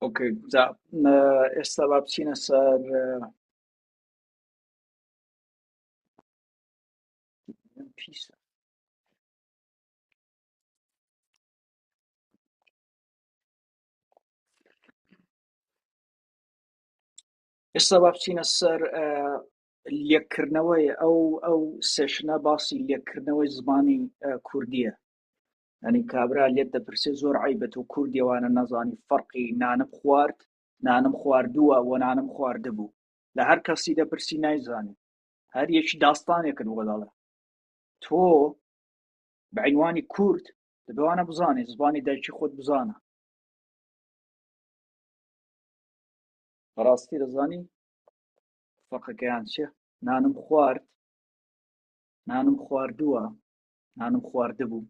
ئۆکەی جا م- ئێستا با بچینە سەر م- پیسە ئێستا با بچینە سەر ئە، لێکردنەوەی ئەو ئەو سێشنە باسی لێکردنەوەی زمانی ئە، کوردیە یانی کابرا لێت دەپرسێ زۆر عیبە تۆ کوردی ئەوانە نەزانی فەرقی نانم خوارد نانم خواردووە و نانم خواردبوو لە هەر کەسی دەپرسی نایزانێت هەر یەکی داستانێکت بۆ دەڵێ تۆ بەعینوانی کورد دەبوانە بزانێت زبانی دایکی خۆت بزانە بەڕاستی دەزانی فەقەکەیان چێ نانم خوارد نانم خواردووە نانم خواردبوو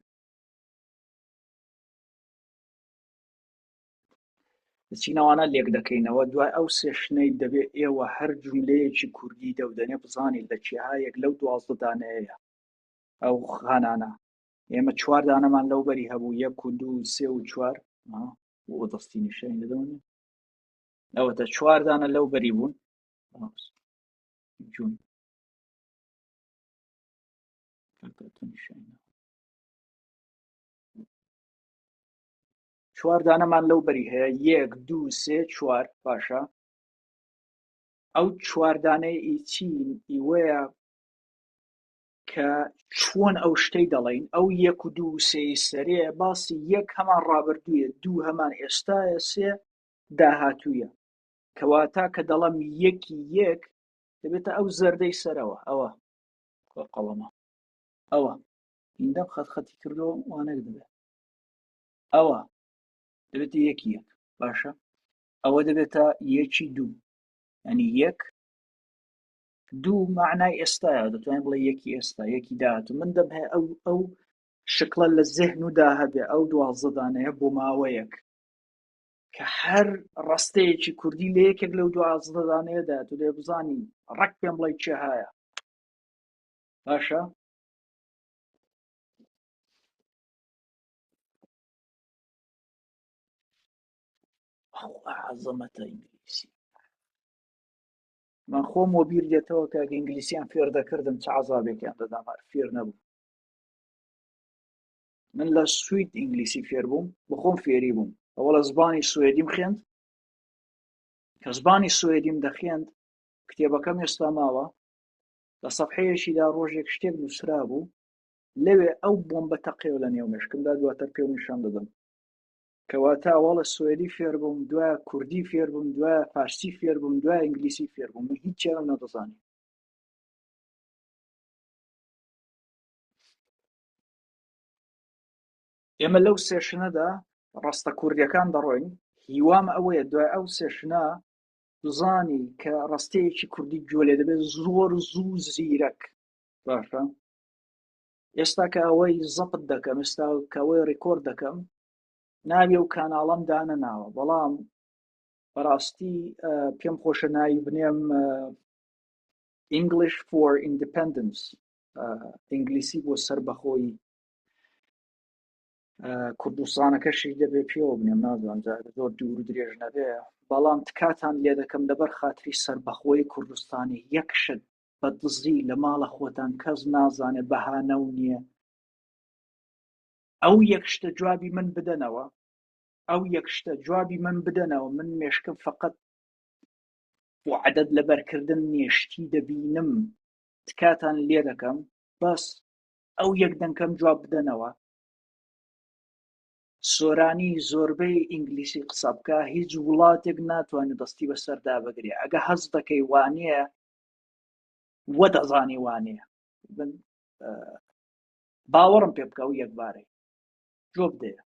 چینەوانە لێک دەکەینەوە دوای ئەو سێشنەی دەبێت ئێوە هەر جوولەیەکی کوردی دەودەنێ بزانین لە کێهایەک لەو دوازدەدانەیە ئەو خانانە ئێمە چواردانەمان لەو بەری هەبوو یەک و دوو سێ و چوار بۆ دەستی نیشتین دەدەونێ ئەوەتە چواردانە لەو بەری بوون جون چوار دانەمان لەو بەری هەیە یەک دوو سێ چوار باشە ئەو چواردانەی ئیچین ئیوەیە کە چۆن ئەو شتەی دەڵین ئەو یەک و دوو سێ سەرێ باسی یەک هەمان ڕابردوویە دوو هەمان ئێستاە سێ داهاتوویە کەواتە کە دەڵم یەکی یەک دەبێتە ئەو زەردەی سەرەوە ئەوە کوا قەڵەمە ئەوە هیندەم خەت خەتی کردەوە وانەک دەبێت ئەوە دەبێت یەکی یەک باشە ئەوە دەبێتە یەکی دوو ئەنی یەک دوو معنای ئێستاە دەتوانین بڵێ یەکی ئێستا یەکی داهات من دەم هەیە ئەو ئەو شکڵە لە زێهن و داهبێ ئەو دوازدانەیە بۆ ماوەیەک کە هەر ڕستەیەکی کوردی لە یەکێک لەو دوازدەدانەیەدا تو لێ بزانی ڕەک پێم بڵی چێ هایە باشە عزەمەتە ئینگلیسی من خۆم وە بیر دێتەوە کە ئینگلیسیان فێر دەکردم چ عزابێکیان دەدام فێر نەبوو من لە سوید ئینگلیسی فێربووم بخۆم فێری بووم ئەوە لە زبانی سوێدیم خوێند کە زبانی سوێدیم دەخێند کتێبەکەم ێستا ماوە لە سەحەیەشیدا ڕۆژێک شتێک نووسرا بوو لەوێ ئەو بۆم بە تەقێو لە نێو مشکمدا دواتر پێ نیشان دەدەم کەواتە ئەوڵە سوێدی فێربووم دوای کوردی فێربووم دوای فارسی فێربووم دوای ئینگلیسی فێربووم من هیچ چێرم نەدەزانانی ئێمە لەو سێشنەدا ڕستە کوردیەکان دەڕۆین هیوام ئەوەیە دوای ئەو سێشنە بزانی کە ڕستەیەکی کوردی گوێ لێ دەبێت زۆر زوو زیرەک باشە ئێستا کە ئەوەی زەپت دەکەم ئێستا کەەوەی ڕیکۆرد دەکەم ناوی و کاناڵم دانە ناوە بەڵام بەڕاستی پێم خۆشە ناوی بنێم English for Independence ئینگلیسی بۆ سربەخۆی کوردستانەکەشی دەبێ پێوە بنێم نازان زۆر دوور درێژ نەبێ بەڵام تکاتان لێ دەکەم لەبەر خااتری سربەخۆی کوردستانی یەکشت بە دزی لە ماڵە خۆتان کەس نازانێ بەهانە و نییە ئەو یەک شتە جوابی من بدەنەوە ئەو یەک شتە جوابی من بدەنەوە من مێشکم فقط عدد لەبەرکردن نێشتی دەبینم تکاتان لێ دەکەم بەس ئەو یەک دەنکەم جواب بدەنەوە سۆرانی زۆربەی ئینگلیسی قسە بکە هیچ وڵاتێک ناتوانێت دەستی بەسەردا بگرێ ئەگە هەز دەکەی وانەیە وە دەزانی وانەیە باوەڕم پێ بکە و یەکبارەی جۆ بدەیە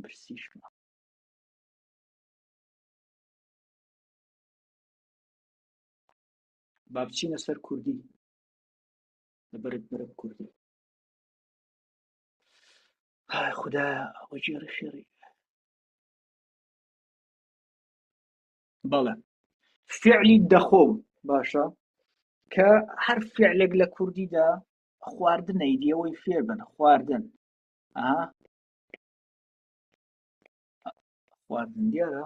برسیشمە با بچینە سەر کوردی لەبەرت بەرە کوردی خدا وەجێڕی خێڕی بەڵێ فعلی دەخۆم باشە کە هەر فعلێک لە کوردیدا خواردنەی دیەوەی فێر بن خواردن خواردن دیارە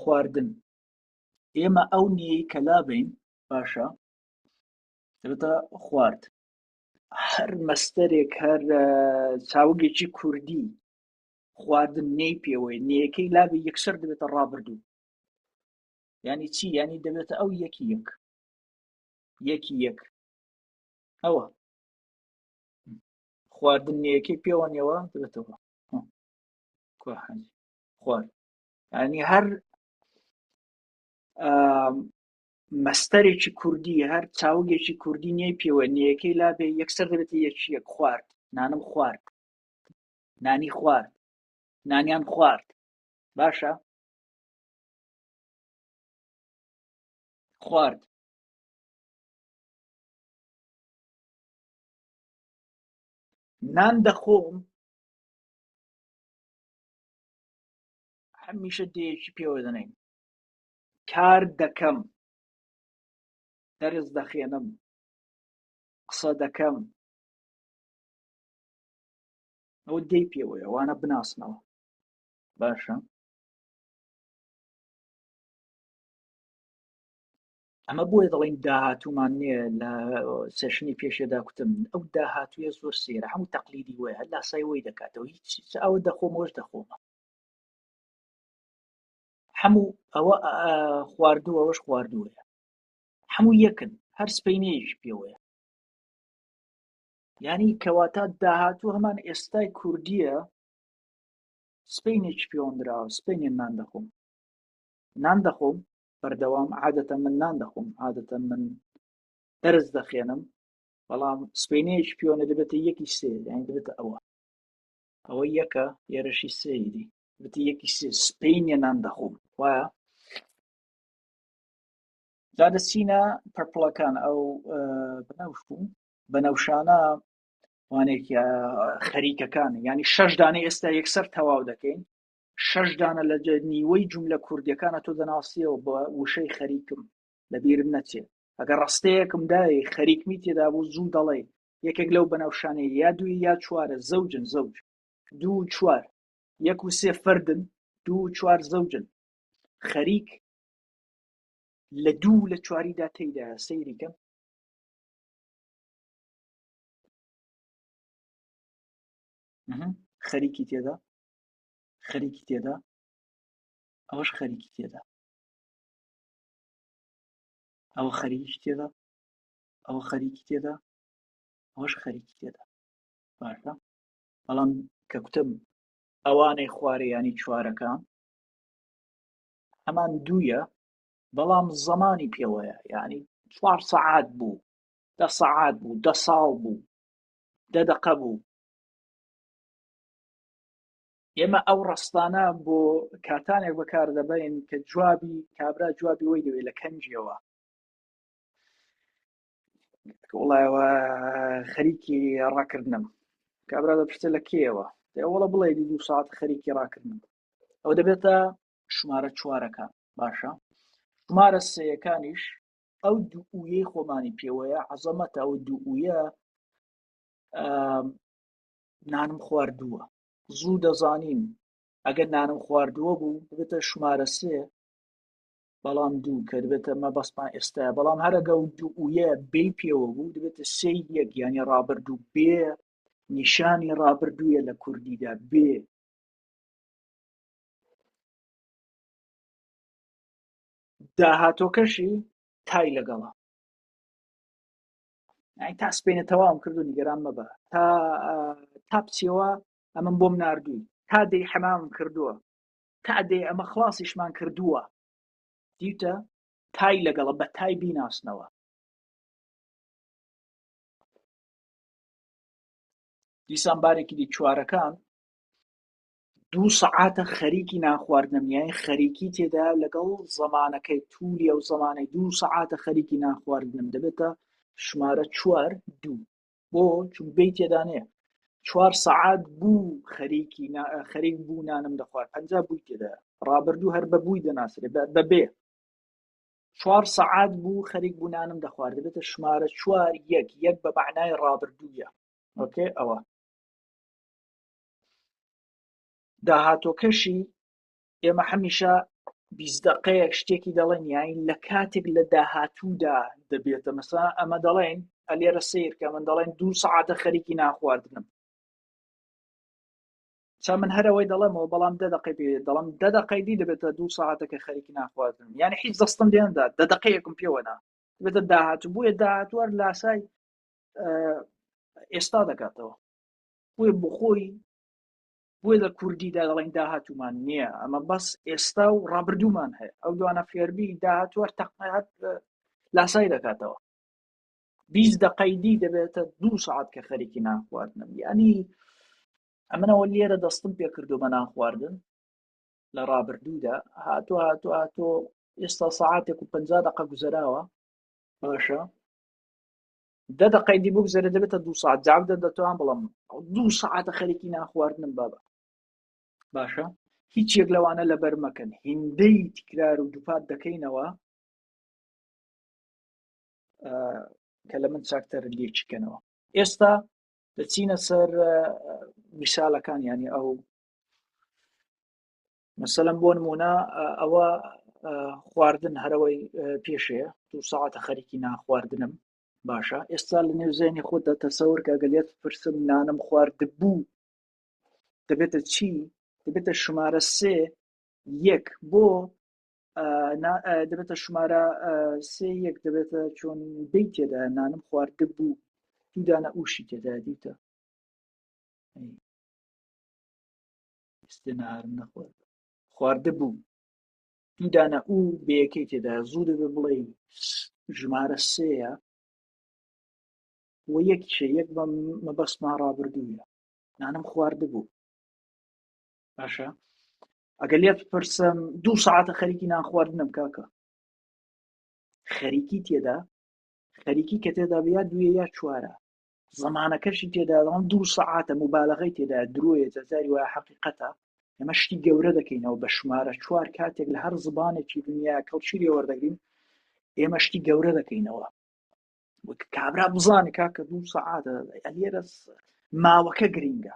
خواردن ئێمە ئەو نیەی کە لابین باشە دەبێتە خوارد هەر مەستەرێک هەر چاوگێکی کوردی خواردن نێی پێوەی نەکەی لابی یەکسەر دەبێتە ڕابردوو ینی چی ینی دەبێتە ئەو یەکی یەک یەکی یەک ئەوە خواردن نیەکەی پێوە نێوە دەبێتەوە خوارد ینی هەر مەستەرێکی کوردی هەر چاوگێکی کوردی نیە پێوە نیەکەی لا بێ یەکسەر دەبێتی یەکی یەک خوارد نانم خوارد نانی خوارد نانیان خوارد باشە خوارد نان دەخۆم هەمیشە دێکی پێوە دەنێن کار دەکەم دەرز دەخێنم قسە دەکەم ئەو دەی پێوەیە وانە بناسنەوە باشە ئەمە بۆیە دەڵین داهاتومان نیە لە سێشنی پێشێدا کوتم ئەو داهاتویە زۆر سێرە هەموو تەقلیدی وە هەر لاسای وی دەکاتەوە هیچ ئەوە دەخۆمەوەش دەخۆمە هەموو ئەوە خواردوو ئەوەش خواردووە هەموو یەکن هەر سپینەیەش پێوەیە ینی کەواتە داهاتوو هەمان ئێستای کوردیە سپینێک پێوەندراوە سپینێن نان دەخۆم نان دەخۆم بەردەوام عادەتە من نان دەخۆم عادەتە من دەرز دەخێنم بەڵام سپێنەیەش پیۆنە دەبێتە یەکی سێ یان دەبێتە ئەوە ئەوە یەکە ئێرەشی سەیری بتی یەکی سێ سپینە نان دەخۆم وایە جادە سینە پرپڵەکان ئەو بنەوشبوو بەنەوشانە وانێکی خەریکەکان ینی شەش دانە ئێستا یەکسەر تەواو دەکەین شەش دانە لە نیوەی جوملە کوردیەکانە تۆ دەناسیەوە بە وشەی خەریکم لەبیرم نەچێ ئەگە ڕستەیەکم دای خەریکمی تێدا بوو زوو دەڵێ یەکێک لەو بەنەوشانەیە یا دووی یا چوارە زەوجن زەوج دوو چوار یەک و سێ فردن دوو چوار زەوجن خەریک لە دوو لە چواریدا تێدا سەیریکەم خەریکی تێدا خەریکی تێدا ئەوەش خەریکی تێدا ئەوە خەریکی تێدا ئەوە خەریکی تێدا ئەوەش خەریکی تێدا باشە بەڵام کە کوتم ئەوانەی خوارەیانی چوارەکان هەمان دوویە بەڵام زەمانی پێوەیە یعنی چوار سەعات بوو دە سەعات بوو دە ساڵ بوو دە دەقە بوو ئێمە ئەو ڕستانە بۆ کاتانێک بەکار دەبین کە جوابی کابرا جوابی وەی دەوێت لە کەنجیەوە وڵایەوە خەریکی ڕاکردنم کابرا دەپشتە لە کێەوە دەوڵە بڵێ دو ساعت خەریکی ڕاکردن ئەو دەبێتە شمارە چوارەکە باشە شمارە سەیەکانیش ئەو دوویەی خۆمانی پێوەیە عزەمەتە ئەو دوویە نانم خواردووە زوو دەزانیم ئەگەر نانم خواردووە بوو ببێتە شمارە سێ بەڵام دوو کە دەبێتە مە بەسمان ئێستا بەڵام هەرەگە و دوو وە بێ پێوە بوو دەبێتە سێ یەک یانی ڕابردوو بێ نیشانی ڕابردوویە لە کوردیدا بێ داهاتۆکەشی تای لەگەڵە تا سپێنە تەواوم کردو نیگەران مەبە تا تا بچەوە ئەمەم بۆم نردووی تا دەی حەمام کردووە تا دەی ئەمە خلاصیشمان کردووە دیتە تای لەگەڵە بە تای بیناسنەوە دیسان بارێکی دی چوارەکان دوو سەعاتە خەریکی نانخواردنم یانی خەریکی تێدا لەگەڵ زەمانەکەی توولی ئەو زەمانەی دوو سەعاتە خەریکی نانخواردنم دەبێتە ژمارە چوار دوو بۆ چون بی تێدانێ چوار سەعات بوو خەریکی خەریک بوو نانم دەخوارد پنج بووی تێدا ڕابردوو هەر بە بووی دەناسرێ بە بێ چوار سەعات بوو خەریک بوو نانم دەخوارد دەبێتە ژمارە چوار یەک یەک بە معنای ڕابردووە ئۆکێ ئەوە داهاتۆکەشی ئێمە حەمیشە بیزدەقەیەک شتێکی دەڵێن یاین لە کاتێک لە داهاتوودا دەبێتە مەسا ئەمە دەڵێن ئەلێرە سیرکە من دەڵێن دوو سعاتە خەریکی ناخواردنم چا من هەرەوەی دەڵێمەوە بەڵام دە دقی پێ دەڵم دە دقی دی دەبێتە دوو ساعتەکە خەریکی ناخواردن یعنی حیز دەستم دێندا دە دقەیەکم پێوەنا بێتە داهات بووە داهاتوار لاسای ئێستا دەکاتەوە بۆی بخۆی بۆی لە کوردیدا دەڵێن داهاتومان نییە ئەمە بەس ئێستا و ڕابردوومان هەیە ئەو دوانە فێربی داهاتوە تەقنەهات لاسای دەکاتەوە بیست دەقەیدی دەبێتە دوو سعات کە خەریکی ناخواردنم ینی ئەمنەوە لێرە دەستم پێکردو بە ناخواردن لە ڕابردوودا هاتو هاتو هاتۆ ئێستا سعاتێک و پ دقە گوزەراوە باشە دە دەقەی دی بگوزەرە دەبێتە دو ساعت جواب دەن دەتوان بڵم دو ساعتە خەرێکی ناخواردنم بابە باشە هیچ یەک لەوانە لەبەر مەکەن هیندەی تکرار و دووپات دەکەینەوە کە لە من چاکتەر لێکیکەنەوە ئێستا دەچینە سەر میسالەکان ینی ئەو مەسەلەن بۆ نمونە ئەوە خواردن هەرەوەی پێشێ دو ساعتە خەریکی ناخواردنم باشە ئێستا لە نێو زێنی خۆت دەتەسەور کە گەلێت پرسم نانم خوارد بوو دەبێتە چی دەبێتە شمارە سێ یەک بۆ دەبێتە شمارە سێ یەک دەبێتە چۆن دەی تێدا نانم خوارد بوو دوودانە ئوشی تێدا دیتە ئێستێ نەهارم نەخوارد خواردبوو دوو دانە ئو بەیەکەی تێدا زوو دەبێ بڵێ ژمارە سێە و یەک شێ یەک مەبەستمان ڕابردووە نانم خواردبوو باشە ئەگەر لێت پرسم دوو ساعتە خەریکی نان خواردنم کاکە خەریکی تێدا خەریکی کە تێدا بیا دوێ یا چوارە زمانەکەشی تێداڵام دوو سەعاتە مبالغی تێدا درۆیە جەزاری وای حقیقەتە ئەمە شتی گەورە دەکەینەوە بە شمارە چوار کاتێک لە هەر زبانێکی دنیا کەڵچیری وەردەگرین ئێمە شتی گەورە دەکەینەوە وەک کابرا بزانانی کاکە دوو سەعاتە ئەلێرە ماوەکە گرینگە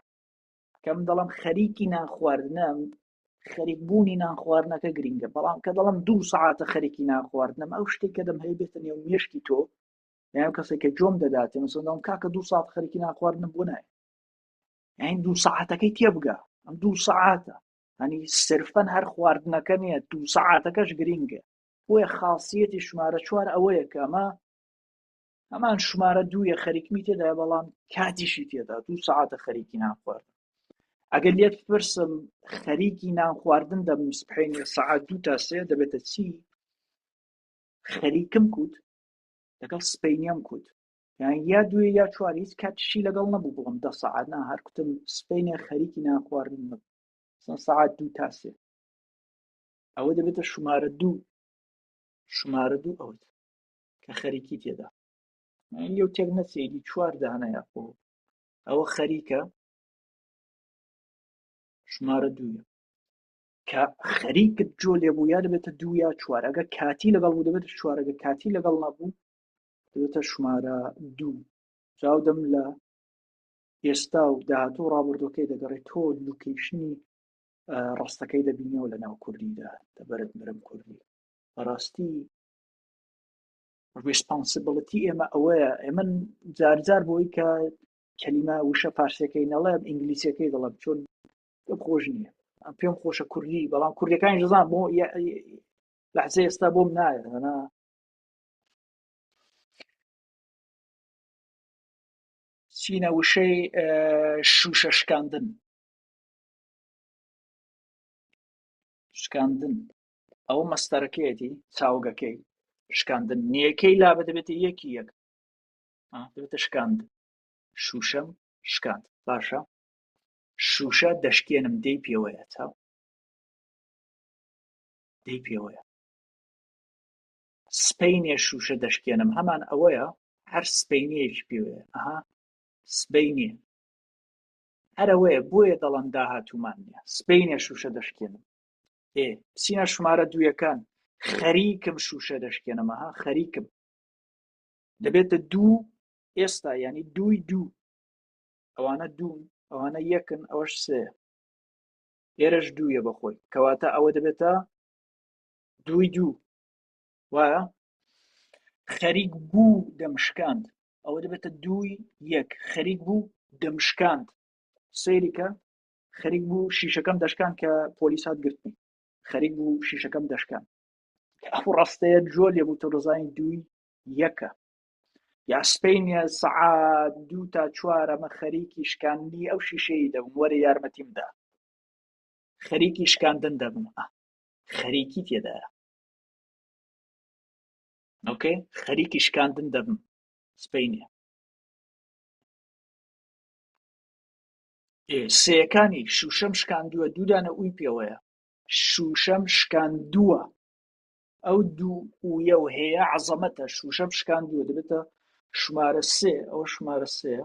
کەم دەڵم خەریکی نان خواردنە خەریک بوونی نان خواردنەکە گرینگە بەڵام کە دەڵم دوو سعاتە خەریکی نان خواردنەم ئەو شتێک کە دەم هەیبێتە نێو مێشکی تۆ یان کەسێک کە جۆم دەداتێ مەسەڵەوەم کاکە دوو ساعت خەرکی ناخواردنم بۆ نایە یان دوو ساعتەکەی تێبگا ئەم دوو ساعتە هەنی سرفەن هەر خواردنەکە نیە دوو ساعتەکەش گرینگە بۆیە خاصیەتی شمارە چوار ئەوەیە کە ئەمە هەمان شمارە دوویە خەریکمی تێدا بەڵام کاتیشی تێدا دوو ساعتە خەریکی ناخوارد ئەگەر لێت پرسم خەریکی نان خواردن دەبم سبحینە سعات دوو تا سێ دەبێتە چی خەریکم کوت لەگەڵ سپینیەم کوت یان یا دوێ یا چوار هیچ کاتشی لەگەڵ نەبوو بڵم دە سەعات نا هەر کوتم سپینێ خەریکی نانخواردن نەبوو سن سەعات دوو تاسێ ئەوە دەبێتە شمارە دوو شمارە دوو ئەوت کە خەریکی تێدا یو تێک نەچێگی چوار دانەیە خۆ ئەوە خەریکە شمارە دووە کە خەریکت جۆ لێبوو یا دەبێتە دوو یا چوارەگە کاتی لەگەڵ بوو دەبێت چوارەگە کاتی لەگەڵ نەبوو دەبێتە ژمارە دوو چاودەم لە ئێستا و داهاتوو ڕابردۆکەی دەگەڕێت تۆ لوکیشنی ڕاستەکەی دەبینەوە لە ناو کوردیدا دەبرت مرم کوردی بەڕاستی ڕسپانسبلتی ئێمە ئەوەیە ئێمە جارجار بۆی کە کەلیمە وشە پارسەکەی نەڵێم ئینگلیسیەکەی دەڵم چۆن پێم خۆش نییە پێم خۆشە کوردی بەڵام کوردەکانی ژزان بۆ لەحزە ئێستا بۆم نایەت هەنا چینە وشەی شوشە شکاندن شکاندن ئەو مەستەرەکەیەتی چاوگەکەی شکاندن نیەکەی لا بدەبێت یەکی یەک دەبێتە شکاند شوشەم شکاند باشە شوشە دەشکێنم دەی پێوەیە چاو دەی پێوەیە سپینێ شوشە دەشکێنم هەمان ئەوەیە هەر سپینیەکی پێوەیە ئەها سبینێ هەرەوەیە بۆیە دەڵم داهاتومان نیە سبینێ شوشە دەشکێنم ئێ سینە شمارە دوویەکان خەریکم شوشە دەشکێنەمەها خەریکم دەبێتە دوو ئێستا ینی دووی دوو ئەوانە دوون ئەوانە یەکن ئەوەش سێ ئێرەش دوویە بەخۆی کەواتە ئەوە دەبێتە دووی دوو وایە خەریک بوو دەمشکاند ئەوە دەبێتە دووی یەک خەریک بوو دەمشکاند سەیریکە خەریک بوو شیشەکەم دەشکان کە پۆلیسات گرتنی خەریک بوو شیشەکەم دەشکان ئەو ڕاستەیە جۆ لێ بوو تۆ دەزانین دووی یەکە یا سپینە سەعات دوو تا چوارەمە خەریکی شکاندنی ئەو شیشەی دەبم وەرە یارمەتیم دا خەریکی شکاندن دەبم خەریکی تێدایە ئۆکەی خەریکی شکاندن دەبم سپینە سەکانی شوشەم شکاندووە دوودانە ئەوی پێوەیە شوشەم شکاندووە ئەو دوو ئویە و هەیە عەزەمەتە شوشە شکاندووە دەبێتە شمارە سێ ئەوە شمارە سێ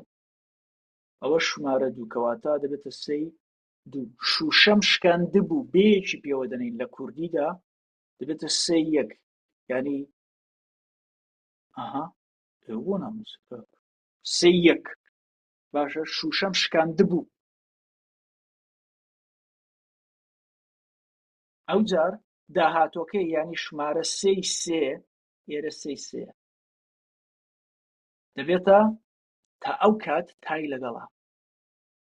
ئەوە شمارە دوو کەواتە دەبێتە سەی دوو شوشەم شکاند بوو بێکی پێوە دەنین لە کوردیدا دەبێتە سێ یەک ینی ئەها بۆ ناموس سێ یەک باشە شوشەم شکاند بوو ئەو جار داهاتوەکەی یانی شمارە سێی سێ ئێرە سێی سێ دەبێتە تا ئەو کات تای لەگەڵا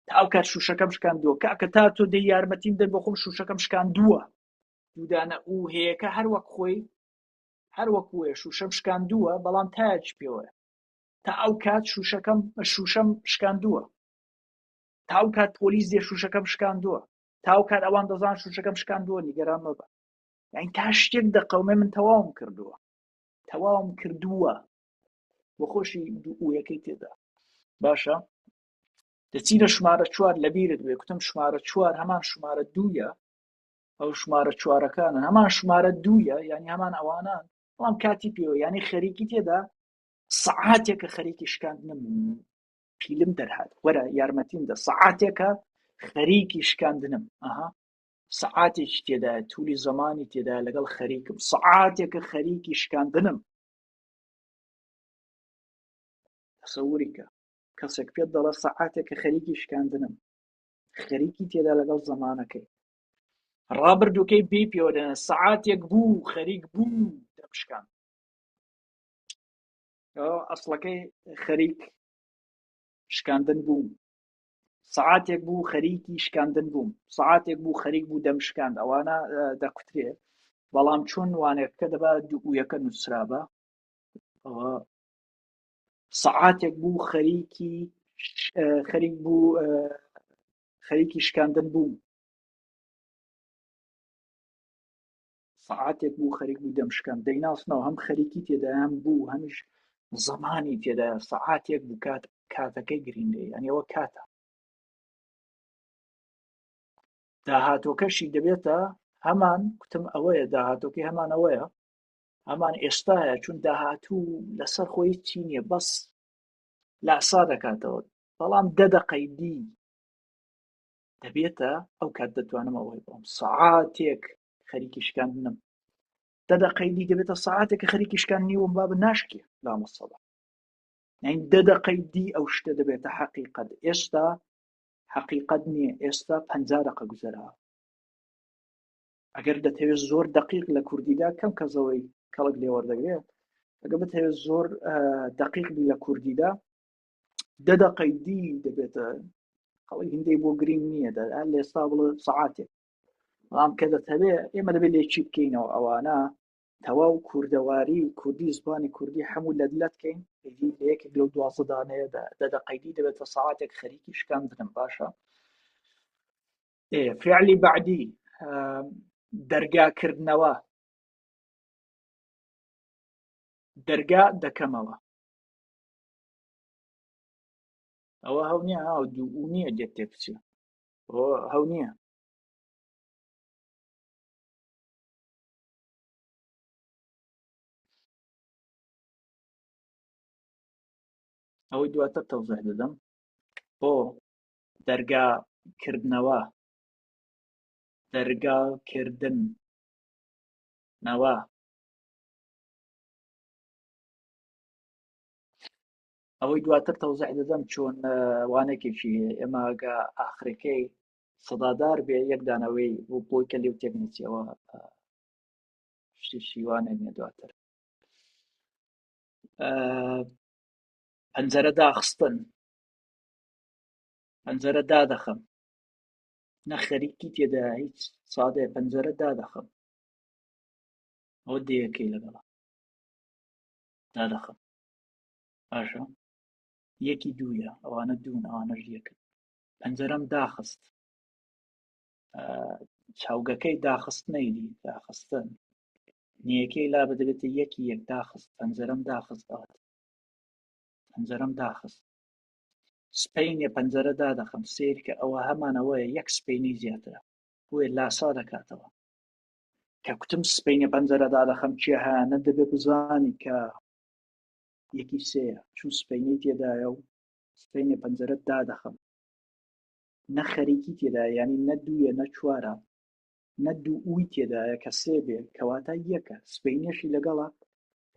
تا ئەو کات شوشەکەم شکان دووە کاکە تا تۆ دەی یارمەتیم دەر بۆ خۆم شوشەکەم شکان دووە دوودانە و هەیەەکە هەر وەک خۆی هەر وەکوێ شوشەم شکان دووە بەڵام تاج پێوەە تا ئەو کات شوشەکەم شوشەم شکان دووە تا ئەو کات پۆلیس دێ شوشەکەم شکان دووە تاو کات ئەوان دەزان شوشەکەم شکاندووە نیگەران مەبە یعنی تا شتێک دەقەومێ من تەواوم کردووە تەواوم کردووە بۆ خۆشی دووەکەی تێدا باشە دەچینە شمارە چوار لە بیرت بێ کوتم شمارە چوار هەمان شمارە دوویە ئەو شمارە چوارەکانە هەمان شمارە دوویە یعنی هەمان ئەوانان بەڵام کاتی پێوە ینی خەریکی تێدا سەعاتێکە خەریکی شکاندنم پیلم دەرهات وەرە یارمەتیم دە سەعاتێکە خەریکی شکاندنم ئەها سەعاتێکی تێدا تولی زمانی تێدا لەگەڵ خەریکم سەعاتێکە خەریکی شکاندنم سەوریکە کەسێک پێت دەڵە سەعاتێکە خەریکی شکاندنم خەریکی تێدا لەگەڵ زمانەکەی ڕابردووکەی بی پێوەدەێن سەعاتێک بوو خەریک بوو دەمشکان ئەسڵەکەی خەریک شکاندن بووم سعاتێک بوو خەریکی شکاندن بووم سعاتێک بوو خەریک بوو دەم شکاند ئەوانە دەکوترێ بەڵام چۆن وانەکە دەبا دوویەکە نووسرابە ئەوە سعاتێک بوو خەریکی خەریک بوو خەریکی شکاندن بووم سەعاتێک بوو خەریک بوو دەمشکان دەیناسنەوە هەم خەریکی تێدایان بوو هەمیش زمانی تێدا سەعاتێک بوو کات کاتەکەی گرینگە یانەوە کاتە داهاتۆکەشی دەبێتە هەمان کوتم ئەوەیە داهاتۆکەی هەمانەوەیە هەمان ئێستاە چون داهاتوو لەسەر خۆی چی نییە بەس لاسا دەکاتەوە بەڵام دەدەقەی دی دەبێتە ئەو کات دەتوانم ئەوەی بۆم سعاتێک خەریکی شکاندنم دەدەقەی دی دەبێتە ساعاتێکە خەریکی شکان نیوم باب ناشکێ لامەسەڵە یعنی دەدەقەی دی ئەو شتە دەبێتە حەقیقەت ئێستا حەقیقەت نییە ئێستا پ دەقە گوزەرا ئەگەر دەتەوێت زۆر دقیق لە کوردیدا کەم کەزەوەی کەڵک لێوەردەگرێت ئەگە بتەوێت زۆر دقیق بی لە کوردیدا دەدەقەی دی دەبێتە خەڵک هندەی بۆ گرنگ نییە دەر لێستا بڵێ سعاتێک بەڵام کە دەتەوێت ئێمە دەبێت لێکی بکەینەوە ئەوانە تەواو کوردەواری و کوردی زبانی کوردی هەموو لە دلت کەین یەکێک لەو دوازدانەیە دەدەقەیدی دەبێت بە ساعاتێک خەریکی شکاندنم باشە فعلی بعدی دەرگاکردنەوە دەرگا دەکەمەوە ئەوە هەو نیە هاو دوو نییە دێت تێ بچێت ئەوە هەو نییە ئەوەی دواتر تەوزح دەدەم بۆ دەرگا کردنەوە دەرگا کردن نەوە ئەوەی دواتر تەوزح دەدەم چۆن وانەکێکی ئێماگە ئاخرەکەی سەدادار بێ یەک دانەوەی بۆ بۆی کە لێو تێک نچەوە شیوانە نیە دواتر پەنجەرە داخستن پەنجەرە دادەخەم نە خەریکی تێدا هیچ سادێ پەنجەرە دادەخەم ئەوە دەیەکەی لەگەڵا دادەخەم باشە یەکی دوویە ئەوانە دوون ئەوانەش یەکن پەنجەرەم داخست چاوگەکەی داخست نەیدی داخستن نیەکەی لا بدەبێتە یەکی یەک داخست پەنجەرەم داخست ئەوات پەنجەرەم داخست سپینە پەنجەرە دادەخم سیر کە ئەوە هەمانەوەیە یەک سپینی زیاترە بۆێ لاسا دەکاتەوە کە کوتم سپینە پەنجەرە دادەخم چیهانە دەبێ بزانی کە یەکی سێیە چون سپینەی تێدایە و سپینە پەنجەرەت دادەخەم نە خەریکی تێدا ینی نە دوویە نە چوارە نە دوو ئوی تێدایە کە سێ بێ کەواتە یەکە سپینەشی لەگەڵە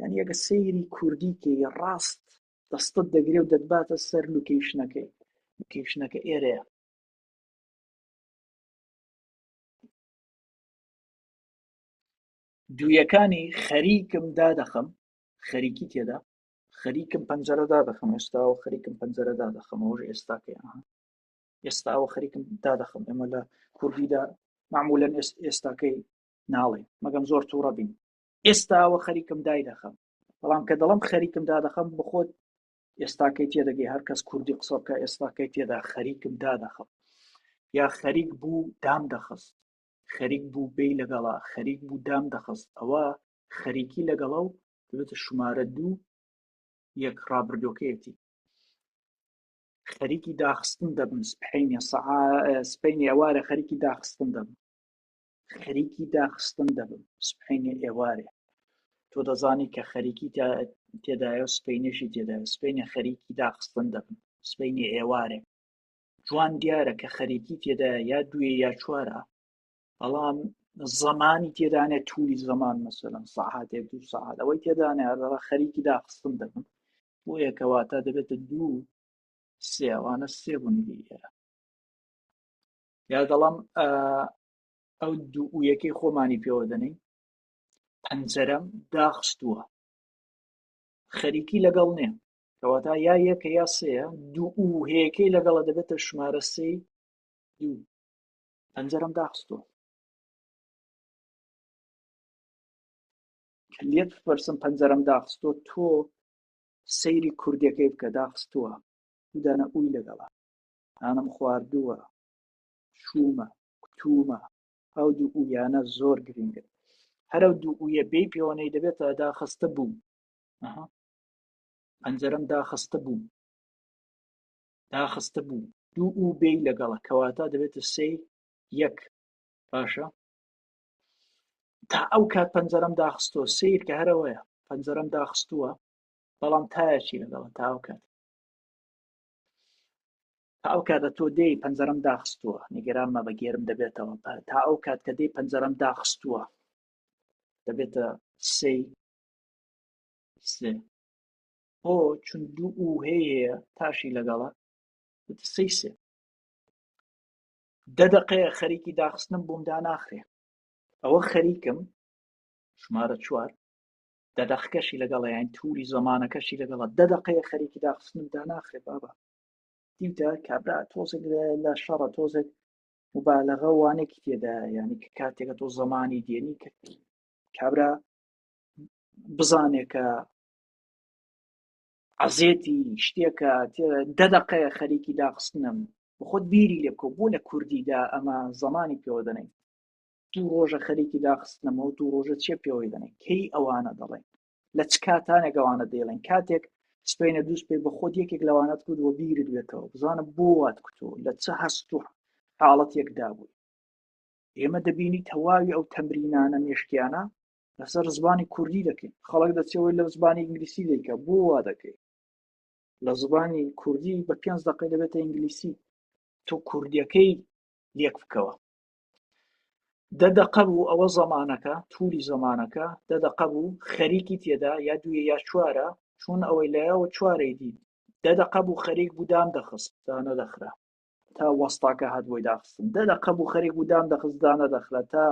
یان یەکە سەیری کوردی کە ڕاست دەستت دەگرێ و دەتباتە سەر لوکیشنەکەی لوکیشنەکە ئێرەیە دویەکانی خەریکم دادەخەم خەریکی تێدا خەریکم پەنجەرەدا دەخەم ئێستاوە خەریکم پەنجەرەدا دەخەمەوەژ ئێستاکەی ئێستاوە خەریکم دا دەخەم ئێمە لە کوردیدا معمولەن ئێستاکەی ناڵێ مەگەم زۆر تووڕە بین ئێستاوە خەریکم دای دەخەم بەڵام کە دەڵم خەریکم دا دەخەم بخۆت ئێستاکەی تێدەگەی هەر کەس کوردی قسەکە ئێستاکەی تێدا خەریکم دا دەخەم یا خەریک بوو دام دەخست خەریک بوو بێ لەگەڵا خەریک بوو دام دەخست ئەوە خەریکی لەگەڵە و دەبێتە شمارە دوو یەک ڕابردۆکەیەتی خەریکی داخستن دەبن سپحینە سپینی ئەوارە خەریکی داخستن دەبن خەریکی داخستن دەبن سپحینە ئێوارێ تۆ دەزانی کە خەریکی تێدایە و سپینەشی تێدا سپینە خەریکی داخستن دەبن سپینی ئێوارێ جوان دیارە کە خەریکی تێدا یا دوێ یا چوارە بەڵام زمانی تێدانێت تولی زمان مەسەلم ساعاتێک دوو ساعات ئەوەی تێدانێڕە خەریکی داخستن دەبن بۆ یەکەواتە دەبێتە دوو سێوانە سێ بوونی ئێرە یا دەڵام ئەو دوو و یەکەی خۆمانی پێوە دەنین پەنجەرەم داخستووە خەریکی لەگەڵ نێ کەواتە یا یەکە یا سەیە دوو و هەیەکەی لەگەڵە دەبێتە ژمارە سێ دوو پەنجەرەم داخستووە کە لێت بپرسم پەنجەرەم داخستووە تۆ سەیری کوردەکەی بکە داخستووە دانە ئوی لەگەڵا هانم خواردووە شوومە کوتومە ئەو دوو ئویانە زۆر گرنگن هەرە دوو ئویە بێ پێوەەی دەبێتە داخستە بووم پەنجەرم داخستە بووم داخستە بوو دوو و بێی لەگەڵە کەواتە دەبێتە سێ یەک باشە تا ئەو کات پەنجەرەم داخستۆ سیر کە هەرەوەیە پەنجەرەم داخستووە بەڵام تایەکی لەگەڵە تا ئەو کات تا ئەو کاتە تۆ دێی پەنجەرەم داخستووە نیگەران مە بەگێرم دەبێتەوە تا ئەو کات کە دێی پەنجەرەم داخستووە دەبێتە سێ سێ هۆ چون دوو ئو هەیە تاشی لەگەڵە سەی سێ دە دەقەیە خەریکی داخستنم بۆم داناخرێ ئەوە خەریکم ژمارە چوار دە دەخکەشی لەگەڵ یان تووری زمانەکەشی لەگەڵە دە دەقەیە خەریکی داخستنم داناخرێ بابا دیتە کابرا تۆزێک لە شەڕە تۆزێک مبالغە وانێکی تێدا یعنی کە کاتێکە تۆ زمانی دێنی کە کابرا بزانێکە عەزێتی شتێکە دە دەقەیە خەریکی داخستنم بخۆت بیری لێ بکە بۆ لە کوردیدا ئەمە زمانی پێوە دەنێن دوو ڕۆژە خەریکی داخستنەمەوە دوو ڕۆژە چێ پێوەی دەنێن کەی ئەوانە دەڵێن لە چ کاتانێک ئەوانە دەیڵێن کاتێک سپینە دووست پێ بە خۆت یەکێک لەوانەت کرد وە بیرت بێتەوە بزانە بۆ وات کوتۆ لە چ هەست و حاڵەتێکدا بووی ئێمە دەبینی تەواوی ئەو تەمرینانە مێشکیانە لەسەر زبانی کوردی دەکەین خەڵک دەچەوەی لە زبانی ئینگلیسی دەیکە بۆ وا دەکەی لە زبانی کوردی بە پێنج دقی دەبێتە ئینگلیسی تۆ کوردیەکەی لێک بکەوە دە دەقە بوو ئەوە زەمانەکە تولی زەمانەکە دە دەقە بوو خەریکی تێدا یا دوێ یا چوارە چون ئەوەی لایەوە چوارەی دی دە دەقە بوو خەریک بودان دەخست دا نەدەخرا تا وەستاکە هات بۆی داخستن دە دەقە بوو خەریک بودان دەخست دا نەدەخرا تا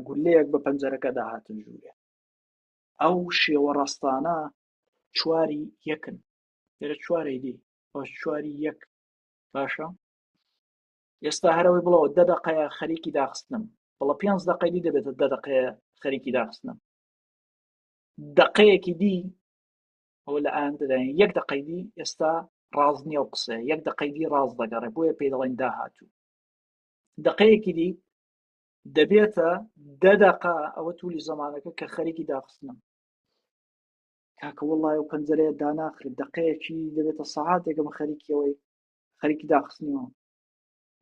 گولەیەک بە پەنجەرەکەدا هاتن ژوورێ ئەو شێوە ڕاستانە چواری یەکن لێرە چوارەی دی چواری یەک باشە ئێستا هەرەوەی بڵەوە دە دەقەیە خەریکی داخستنم بەڵە پێنج دەقەی دی دەبێتە دە دەقەیە خەریکی داخستنم دقەیەکی دی ئەو لە ئاندرێن یەک دقەیدی ئێستا ڕاز نییە و قسە یەک دقەیدی ڕاز دەگەڕێ بۆیە پێی دەڵێن داهاتوو دقەیەکی دی دەبێتە دە دقا ئەوە تولی زمانەکە کە خەریکی داخستنم کاکە وڵی و پەنجەرەیە داناخرێت دقەیەکی دەبێتە سەعاتێکم خەریکیەوەی خەریکی داخستنیەوە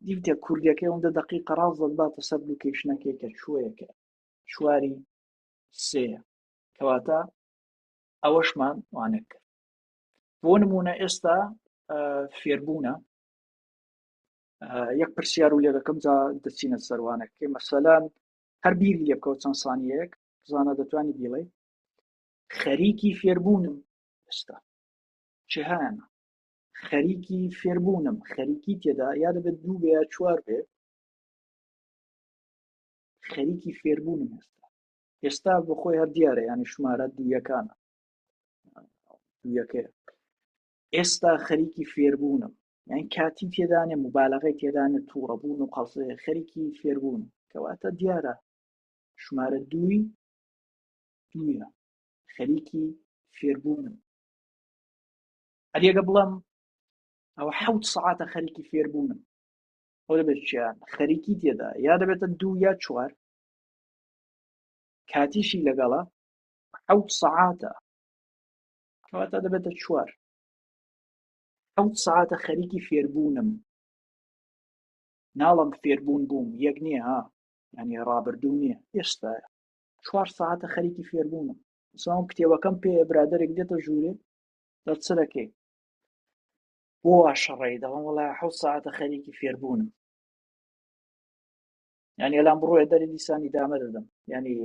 دیتە کوردەکەی ئەوەندە دقی قەراڵ زەباتە سەر لوکیشنەکەی کە شوەیەکە شواری سێ کەواتە ئەوەشمان وانە کرد بۆ نمونە ئێستا فێربوونە یەک پرسیار و لێ دەکەم جا دەچینە سەروانەکەی مەسەلەن هەر بیری لێ بکەوت چەند سانیەک زانە دەتوانانی بیڵێ خەریکی فێربوونم ئێستا چه هەیانە خەریکی فێربوونم خەریکی تێدا یا دەبێت دوو بێ چوار بێ خەریکی فێربوونم ئێستا ئێستا بۆ خۆی هەر دیارە یانی شمارە دوویەکانە دوویەکەی ئێستا خەریکی فێربوونم یان کاتی تێدانێ مبالغی تێدانە تووڕەبوون و قەڵسێ خەریکی فێربوون کەواتە دیارە ژمارە دووی دوە خەریکی فێربوون ئەریەکە بڵم ئەوە حەوت سعاتە خەریکی فێربوونم ئەو دەبێت چیان خەریکی تێدا یا دەبێتە دوو یا چوار کاتیشی لەگەڵە حەوت سعاتە کەواتە دەبێتە چوار حەوت سەعاتە خەریکی فێربوونم ناڵم فێربوون بووم یەک نییە ها ینی ڕابردوو نییە ئێستا چوار ساعتە خەریکی فێربوونم ساوم کتێوەکەم پێ برادێک دێتە ژوورێ دەرچەکەی بۆ شەڕی دەڵم وڵای حە ساعتە خەریکی فێربوونم ینی ئەلام بڕۆێ دەری دیسانی دامە دەدەم ینی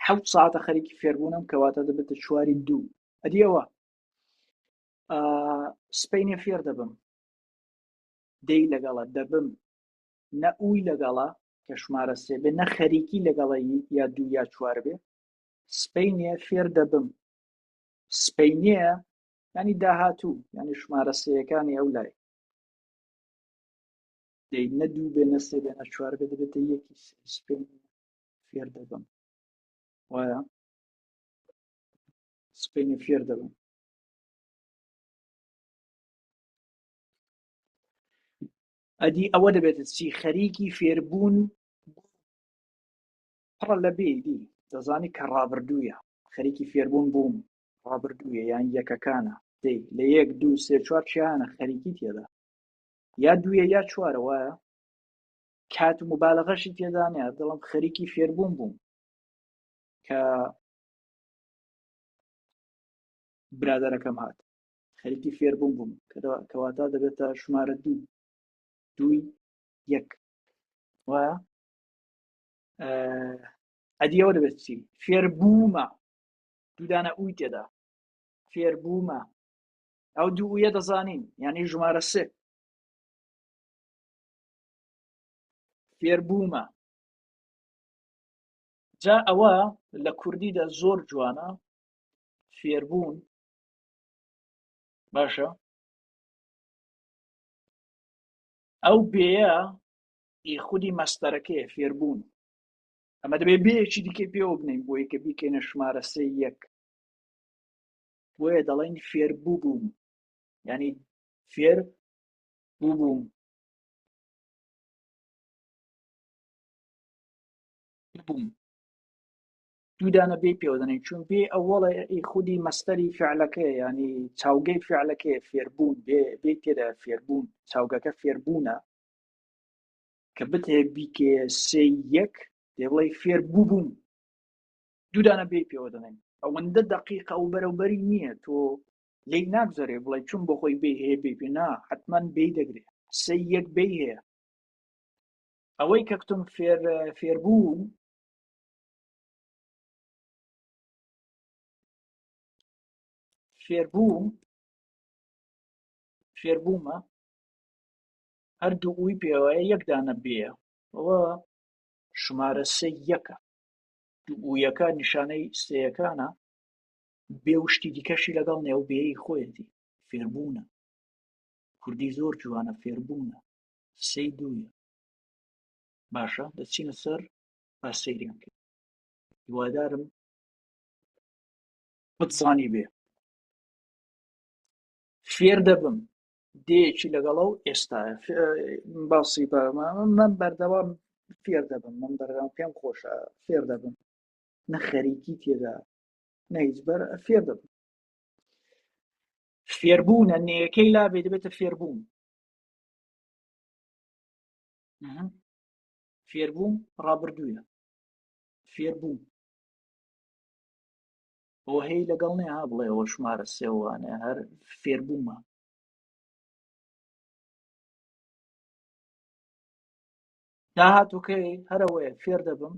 حەوت ساعتە خەریکی فێربوونم کەواتە دەبێتە چواری دوو ئەدیەوە سپینە فێر دەبم دەی لەگەڵە دەبم نە ئووی لەگەڵە کە شمارە سێ بێ نە خەریکی لەگەڵە یا دوو یا چوار بێ سپینە فێر دەبم سپینە ینی داهاتوو ینی شمارە سەکانی ئەو لای دەی نە دوو بێ نە سێ بێ نە چوار بێ دەبێتە یەکی سپین فێر دەبم وایە سپینی فێر دەبم ئەدی ئەوە دەبێت چی خەریکی فێربوون پڕە لە بێدی دەزانی کە ڕابردوویە خەریکی فێربوون بووم ڕابردوویە یان یەکەکانە دەی لە یەک دوو سێ چوار چیانە خەریکی تێدا یا دویە یا چوارەوەە کات و مبالغەشی تێدانە دڵم خەریکی فێربووم بووم کە برادەرەکەم هات خەریکی فێربووم بووم کەواتا دەبێتە ژمارە دوو دووی یەک وایە ئەدیەوە دەبێت چی فێربوومە دوودانە ئوی تێدا فێربوومە ئەو دووە دەزانین یعنی ژمارە سێ فێربوومە جا ئەوە لە کوردیدا زۆر جوانە فێربوون باشە ئەو بێە ئی خودی مەستەرەکەی فێربوون ئەمە دەبێ بێکی دیکە پێوە بنین بۆ یکە بیکەینە ژمارە سێ یەک بۆیە دەڵێن فێر بووبووم ینی فێر بووبووم بووم دوودانە بێ پێوەدەنێک چون بێ ئەوەڵە خودی مەستەری فعلەکە ینی چاوگەی فعلەکەی فێربوون بێ تێدا فێربوون چاوگەکە فێربوونە کە بتێ بیکێ سێ یەک دێڵی فێر بوو بووم دوودانە بێ پێوە دەڵێن ئەوەندە دقیقە و بەرەوبەری نییە تۆ لێی ناگذرێ بڵێ چون بۆ خۆی بێ هەیە بێ پێ نا حتممەن بێ دەگرێ سەی یەک بێ هەیە ئەوەی کە کتم فێر فێربوو فێربوو فێربوومە هەردوو ئەوی پێوەیە یەکدانە بێە ئەوە شمارە سێ یەکە دوویەکە نیشانەی سێیەکانە بێ و شتی دیکەشی لەگەڵ نێ ئەو بێی خۆیەتی فێربوونە کوردی زۆر جوانە فێربوونە سەی دوویە باشە دەچینە سەر با سەیریان کرد هیوادارم بتزانی بێ فێر دەبم دێکی لەگەڵە و ئێستا باسی بەمە من بەردەوام فێر دەبم من بەردەوام پێم خۆشە فێر دەبم نە خەریکی تێدا نەیجبەر فێر دەبن فێربوونە نێەکەی لا بێ دەبێتە فێربوون فێربووم ڕابردووە فێربووم بۆ هەی لەگەڵ نێ ها بڵێ ئەوە شمارە سێوانە هەر فێربوومە داهاتووکەی هەرەوەی فێر دەبم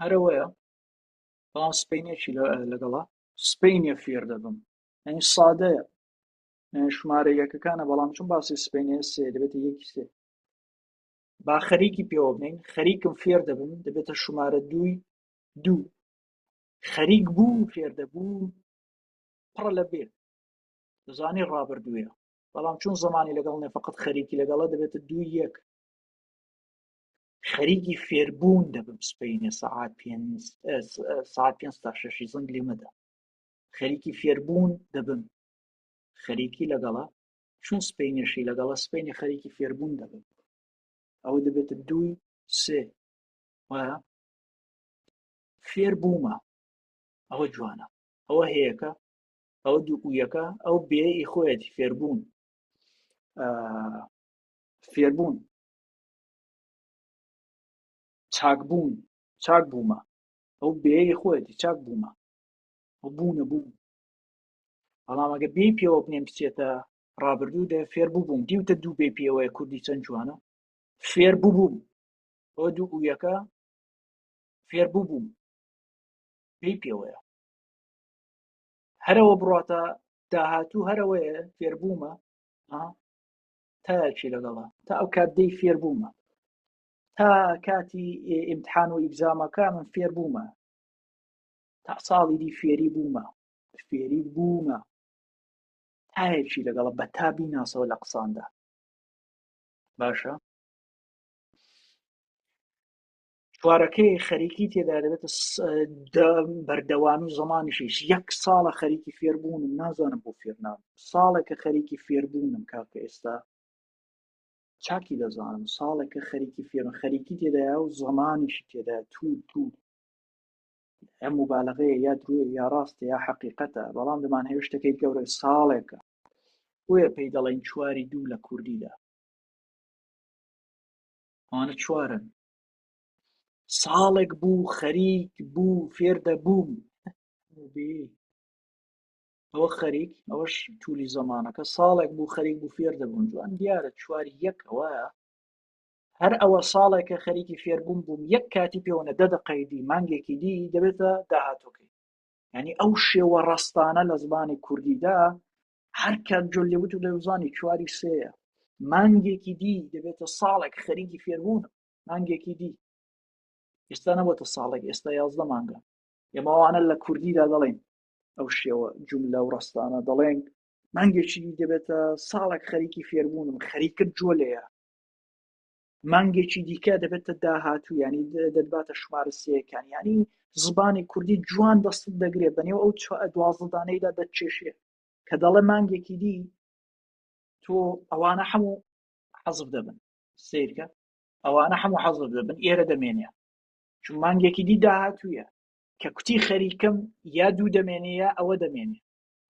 هەرەوەیە بەڵام سپینێکی لەگەڵا سپینە فێر دەبم ئەنی سادەیە ژمارە یەکەکانە بەڵام چون باسی سپینێ سێ دەبێت یەکی سێ با خەریکی پێوە بنین خەریکم فێر دەبم دەبێتە ژمارە دووی دوو خەریک بوو فێر دەبوو پڕە لە بێ دەزانی ڕابردووە بەڵام چون زمانی لەگەڵ نێ فقط خەریکی لەگەڵە دەبێتە دوو یەک خەریکی فێربوون دەبم سپینە سعات پێ سعات پێ تا شەشی زنگ لێمەدا خەریکی فێربوون دەبم خەریکی لەگەڵە چون سپینەشی لەگەڵە سپینی خەریکی فێربوون دەبم ئەوە دەبێتە دووی سێ وایە فێر بوومە ئەوە جوانە ئەوە هەیەەکە ئەو دوو ئویەکە ئەو بێی خۆیەتی فێربوون فێربوون چاکبوون چاک بوومە ئەو بێی خۆیەتی چاک بوومە ئەو بوونە بوو بەڵام ئەگە بێ پێوە بنێم بچێتە ڕابردوو دە فێر ببووم دیوتە دوو بێ پێوەیە کوردی چەند جوانە فێر ببووم ئەو دوو ئویەکە فێر ببووم بێ پێوەیە هەرەوە بڕاتە داهاتوو هەرەوەیە فێربوومە تاکی لەگەڵە تا ئەو کات دەی فێربوومە تا کاتی ئیمتحان و ئیبزامەکە من فێربوومە تا ساڵی دی فێری بوومە فێری بوومە تایەکی لەگەڵە بە تا بیناسەوە لە قساندا باشە چوارەکەی خەریکی تێدا دەبێتە بەردەوامی زمانیشیش یەک ساڵە خەریکی فێربوون نازانم بۆ فێرنام ساڵێکە خەریکی فێربوونم کاکە ئێستا چاکی دەزانم ساڵێکە خەریکی فێرم خەریکی تێدایا و زمانیشی تێدا تو تو ئەم مبالغەیە یا درێ یا ڕاستە یا حقیقەتە بەڵام دەمان هێشتەکەی گەورە ساڵێکە بۆیە پێی دەڵێن چواری دوو لە کوردیدا ئەوانە چوارن ساڵێک بوو خەریک بوو فێر دەبووم ئەوە خەریک ئەوەش تولی زەمانەکە ساڵێک بوو خەریک بوو فێر دەبوون جوان دیارە چوار یەک ئەوە هەر ئەوە ساڵێکە خەریکی فێربووم بووم یەک کاتی پێوەە دەدە قەیدی مانگێکی دی دەبێتە داهاتۆکەی ینی ئەو شێوە ڕاستانە لە زمانی کوردیدا هەر کاک جۆن لێ وت و دەزانی چواری سێە مانگێکی دی دەبێتە ساڵێک خەریکی فێربوون مانگێکی دی ئێستا نەبەتە ساڵێک ئێستا یازدە مانگە ئێمەوانە لە کوردیدا دەڵێن ئەو شێوە جوملە و ڕستانە دەڵێن مانگێکی دەبێتە ساڵێک خەریکی فێربوونم خەریکە جۆلەیە مانگێکی دیکە دەبێتە داهاتوو ینی دەباتە شمارە سەکان ینی زبانی کوردی جوان دەست دەگرێ بەنێو ئەو دوازدانەیدا دەچێشێ کە دەڵێ مانگێکی دی تۆ ئەوانە هەموو حەزف دەبن سیرکە ئەوانە هەموو حەزف دەبن ئێرە دەمێنێ چون مانگێکی دی داهاتوویە کە کوتی خەریکم یا دوو دەمێنێ یا ئەوە دەمێنێ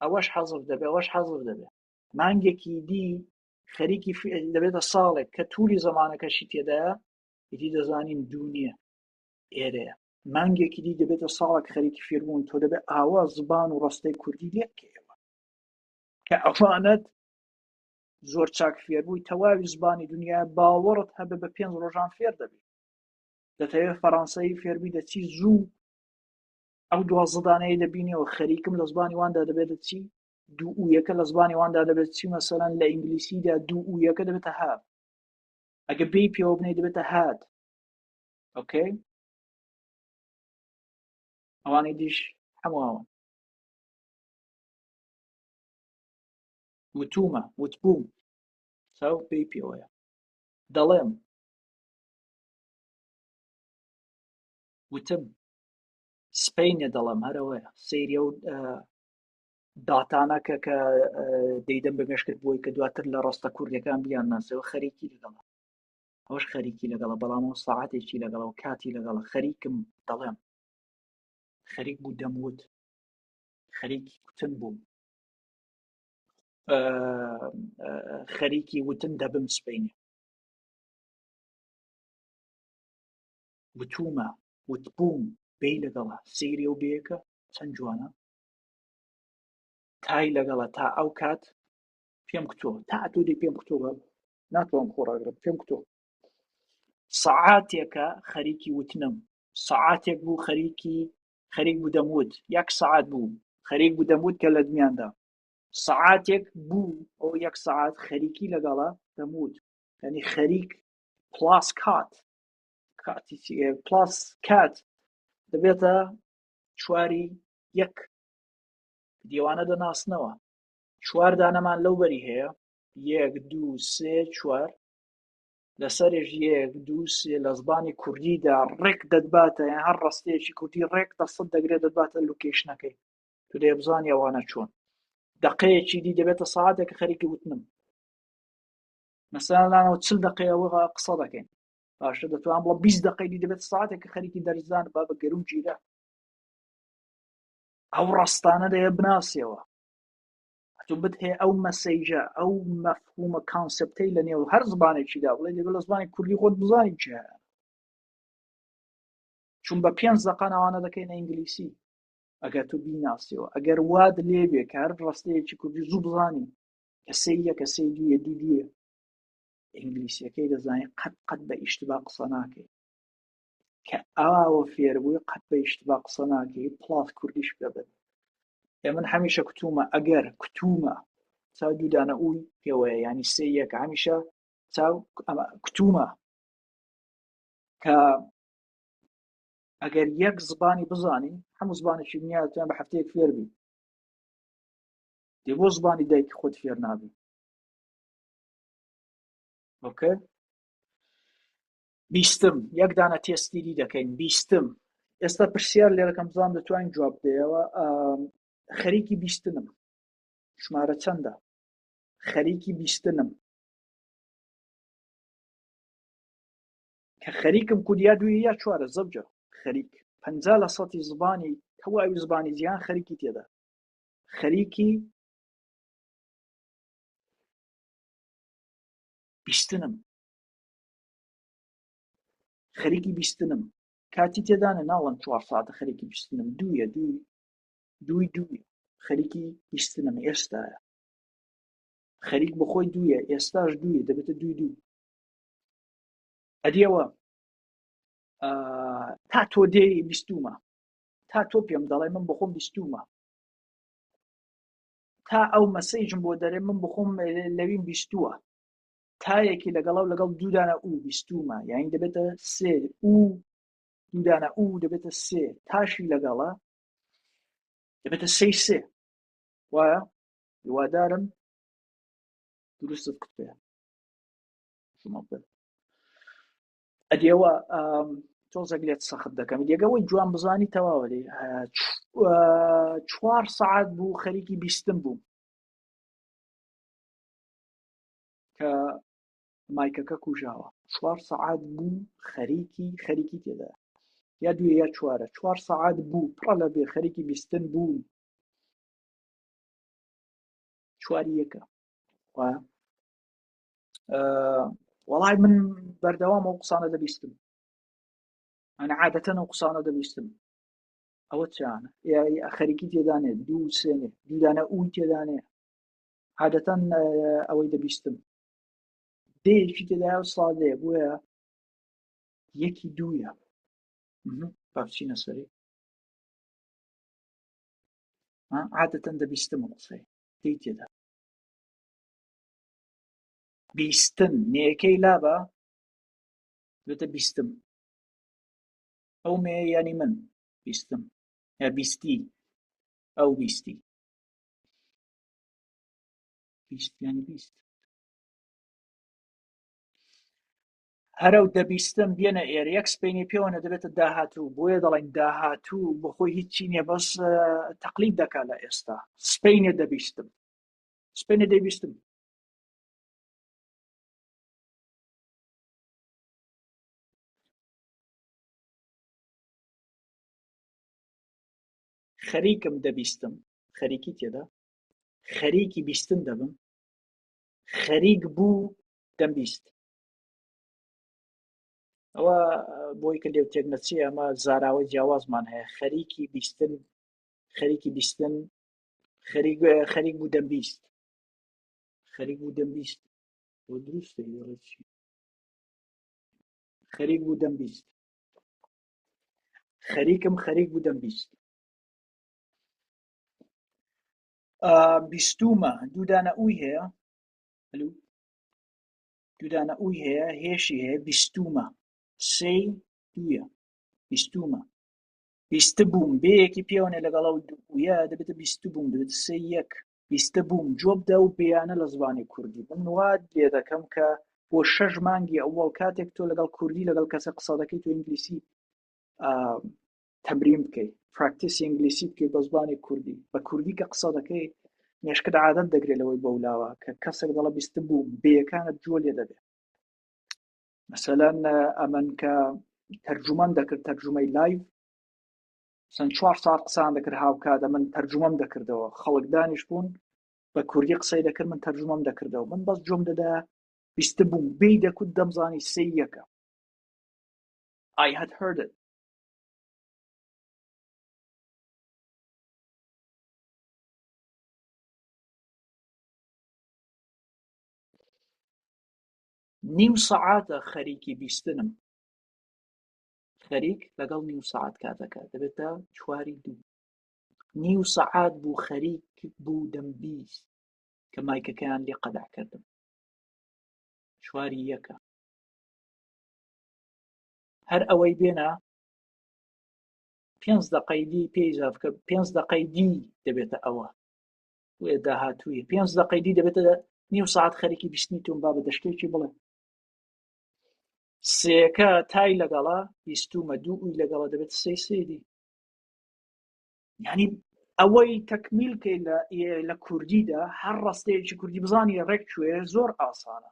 ئەوەش حەزف دەبێ ئەوەش حەزف دەبێ مانگێکی دی خەریکی دەبێتە ساڵێک کە تووری زمانەکەشی تێدایە ئیدی دەزانین دوو نییە ئێرەیە مانگێکی دی دەبێتە ساڵک خەریکی فێربوون تۆ دەبێت ئاوا زبان و ڕستەی کوردی لێکەوە کە ئەفانەت زۆر چاک فێربووی تەواوی زبانی دنیا باوەڕت هەبێ بە پێنج ڕۆژان فێر دەبێت دەتەوێت فەڕەنسایی فێربووی دەچی زوو ئەو دوازدانەیە دەبینەوە خەریکم لە زبانی واندا دەبێت دەچی دوو و یەکە لە زبانی واندا دەبێت چی مەسەرەن لە ئینگلیسیدا دوو و یەکە دەبێتە ها ئەگە بی پێوە بنێ دەبێتە هات ئۆکەی ئەوانەی دیش هەمووەوە وتومە وتبووم ساو پێی پێوەیە دەڵێم وتم سپینە دەڵێم هەرەوەە سریە و داتانە کە کە دەیدەم بە مێشکت بۆی کە دواتر لە ڕاستە کوردەکان بیان ناسەوە خەریکی لەگەڵ ئەوش خەریکی لەگەڵە بەڵام و ساعاتێکی لەگەڵەوە کاتی لەگەڵە خەریکم دەڵێم خەریک بوو دەموت خەریک کوتن بووم خەریکی وتن دەبم سپینێ وتومە وتبووم بێ لەگەڵە سری و بێکە چەند جوانە تای لەگەڵە تا ئەو کات پێم کتۆ تا تۆ دی پێم کتۆ بە ناتوان خۆڕاگرم پێم کتۆ سەعاتێکە خەریکی وتنم سەعاتێک بوو خەریکی خەریک بوو دەموت یەک سەعات بوو خەریک بوو دەموت کە لە دنیادا سەعاتێک بوو ئەو یەک سەعات خەریکی لەگەڵە دەموت ینی خەریک پلاس کات کاتی پلاس کات دەبێتە چواری یەک دیوانە دەناسنەوە چوار دانەمان لەو بەری هەیە یەک دوو سێ چوار لەسەرێژ یەک دوو سێ لە زبانی کوردیدا ڕێک دەدباتە یان هەر ڕستەیەکی کوردی ڕێک دەسەد دەگرێت دەدباتە لوکیشنەکەی تو دێ بزانانی ئەوانە چۆن دقەیەکی دی دەبێتە ساعتێک خەریکی وتنم مەسەلانەوە چل دقەیەوە قسە دەکەین باشە دەتوان بڵە 20 دقەی دی دەبێت ساعتێک کە خەریکی دەرزان با بە گەرم گیرە ئەو ڕستانە دەیە بناسیەوە ئەتو بتهێ ئەو مەسەیجە ئەو مەفهومە کانسپتەی لە نێو هەر زبانێکیدا بڵێ دەبێت لە زمانی کوردی خۆت بزانین چ هەیە چون بە پێنج زەقان ئەوانە دەکەینە ئینگلیسی ئەگەر تو بیناسیەوە ئەگەر واد لێ بێ کار ڕستەیەکی کوردی زوو بزانی کەسێ یە کەسێ دوێ دوو دوێ ئینگلیسیەکەی دەزانین قەت قەت بە ئیشتبا قسە ناکەین کە ئاوە فێربووی قەت بە یشتبا قسە ناکەی پڵات کوردیش بەبن ئێ من هەمیشە کتومە ئەگەر کتومە چاو دوودانە ئووی پێوەیە ینی سێ یەک هەمیشە چاو کتومە کە ئەگەر یەک زبانی بزانین هەموو زبانێکی نیاتیان بە هەفتەیەک فێربی دێ بۆ زبانی دایکی خۆت فێر نابی ئۆکە بیستم، یەک دانە تێستی دی دەکەین بیستم. ئێستا پرسیار لێرەکەم بزانم دەتوانین جواب بدەیەوە خەریکی بیستنم ژمارە چەندە خەریکی بیستنم کە خەریکم کودیا دوی یا چوارە زەوجە خەریک پ لە سەتی زبانی تەواوی زبانی جیان خەریکی تێدا خەریکی بیستنم خەریکی بیستنم کاتی تێدانە ناڵم چوار ساعتە خەریکی بیستنم دوویە دوو دووی دووی خەریکی بیستنم ئێستایە خەریک بخۆی دوویە ئێستاش دوویە دەبێتە دوو دوو ئەدیەوە تا تۆ دێ بیستومە تا تۆ پێم دەڵێ من بخۆم بیستومە تا ئەو مەسەیجم بۆ دەرێ من بخۆم لەوین بیستووە تایەکی لەگەڵا و لەگەڵ دوودانە و بیستومە یاین دەبێتە سێ و دوودانە و دەبێتە سێ تاشی لەگەڵە دەبێتە سێ سێ وایە هیوادارم دروستت کتێ ئەدیەوە تۆزەک لێت سەخت دەکەم یەگەوەی جوان بزانی تەواوە لێ چوار سعات بوو خەریکی بیستم بووم کە مایکەکە کوژاوە چوار سەعات بوو خەریکی خەریکی تێدا یا دوێ یا چوارە چوار سەعات بوو پڕە لە بێ خەریکی بیستن بوو چواری یەکە وەڵای من بەردەوام ئەو قسانە دەبیستم ئەنا عادەتەن ئەو قسانە دەبیستم ئەوە چیانە خەریکی تێدانێ دوو سێنێ دیدانە ئوی تێدانێ عادەتەن ئەوەی دەبیستم دەیەکی تێدایە و سادەیە بۆیە یەکی دوویە بابچینە سەری عادەتەن دەبیستم قسەی دەی تێدا بیستن نێەکەی لابە بێتە بیستم ئەو مێ ینی من بیستم یا بیستی ئەو بیستی هەرەو دەبیستم بێنە ئێرە یەک سپینی پێوەە دەبێتە داهاتوو بۆیە دەڵێن داهاتوو بەخۆی هیچی نیە بەس تەقلید دەکات لە ئێستا سپینە دەبیستم سپینە دەبیستم خەریکم دەبیستم خەریکی تێدا خەریکی بیستن دەبم خەریک بوو دەمبیست ئەوە بۆی کە لێو تێک نەچی ئەمە زاراوە جیاوازمان هەیە خەریکی بیستن خەریکی بیستن خەریک خەریک بوو دەمبیست خەریک بوو دەمبیست بۆ دروستە ڕێکی خەریک بوو دەمبیست خەریکم خەریک بوو دەمبیست بیستومە دوودانە ئەوی هەیە دوودانە ئەوی هەیە هێشی هەیە بیستومە سێ دوە بیستومە بیست بووم بەیەکی پێوەێ لەگەڵ و دوە دەبێت بیست بووم دەبێت سێ یەک بیست بووم جۆبدا و بیانە لە زمانی کوردی من واد لێ دەکەم کە بۆ شەش مانگی ئەوەڵ کاتێک تۆ لەگەڵ کوردی لەگەڵ کەسە قسە دەکەی تو ئینگلیسی تەمرین بکەی پراکتیسی ئینگلیسی بکەی بە زبانی کوردی بە کوردی کە قسە دەکەی مێشکت عادەت دەگرێت لەوەی بەولاوە کە کەسێک دەڵە بیست بووم بێەکانت جووە لێ دەبێت مەسەلەن ئەمن کە تەرجومان دەکرد تەرجومەی لایڤ چەند چوار ساعت قسان دەکرد هاوکاتە من تەرجومەم دەکردەوە خەڵک دانیش بوون بە کوردی قسەی دەکرد من تەرجومەم دەکردەوە من بەس جۆم دەدا بیست بووم بی دەکوت دەمزانی سێ یەکە I had heard it نیو سەعاتە خەریکی بیستنم خەریک لەگەڵ نیو سەعات کاتەکە دەبێتە چواری دوو نیو سەعات بوو خەریک بوو دەم بیست کە مایکەکەیان لێ قەدع کردم چواری یەکە هەر ئەوەی بێنە پێنج دقەی دی پێی زافکە پێنج دقەی دی دەبێتە ئەوە داهاتووی پێنج دقەی دی دەبێتە نیو ساعت خەرێکی بیستنی تۆم با بە دەشتێکی بڵێ سێەکە تای لەگەڵا بیستومە دوو ئوی لەگەڵا دەبێت سێ سێدی ینی ئەوەی تەکمیل کەی لە لە کوردیدا هەر ڕاستەیەکی کوردی بزانانی ڕێک کوێ زۆر ئاسانە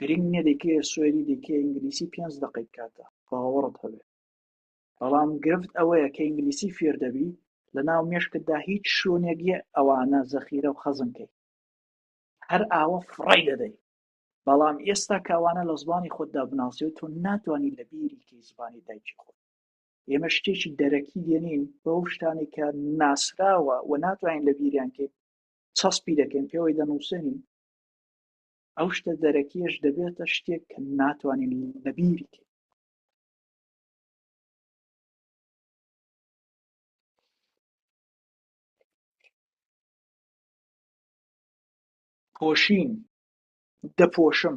گرنگ نییە دەیکەیە سوێری دەیکەیە ئینگلیسی پێنج دەقەی بکاتە باوەڕت هەبێ بەڵام گرفت ئەوەیە کە ئینگلیسی فێر دەبی لە ناو مێشکتدا هیچ شوێنێک یە ئەوانە زەخیرە و خەزنکەی هەر ئاوە فڕی دەدەی بەڵام ئێستا کاوانە لە زمانی خۆتدا بناسیێت تۆ ناتوانانی لە بیریکەی زمانی دایکی خۆت ئێمە شتێکی دەرەکی دێنین بەو شتانی کە ناسراوە و ناتوانین لە بیریانکەین چەسپی دەکەین پێوەی دەنووسێنین ئەو شتە دەرەکیەش دەبێتە شتێک کە ناتوانین لەبیری کە پۆشین دەپۆشم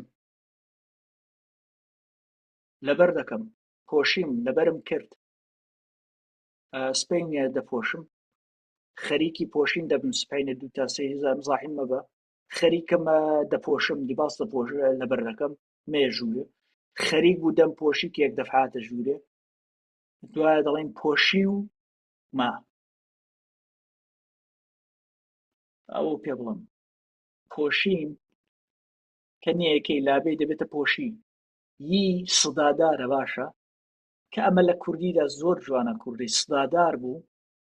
لەبەر دەکەم پۆشیم لەبەرم کرد سپینە دەپۆشم خەریکی پۆشین دەبم سپینە دو تاسەی هزار زاحیم مەبە خەریکم دەپۆشم لیباس دەپۆش لە بەرەکەم مێژوورە خەریک بوو دەم پۆشی کێک دەفعاتە ژوورێ دوایە دەڵێن پۆشی و ما ئەو پێ بڵم پۆشین کە نیەکەی لابێ دەبێتە پۆشی یی سدادارە باشە کە ئەمە لە کوردیدا زۆر جوانە کوردی سدادار بوو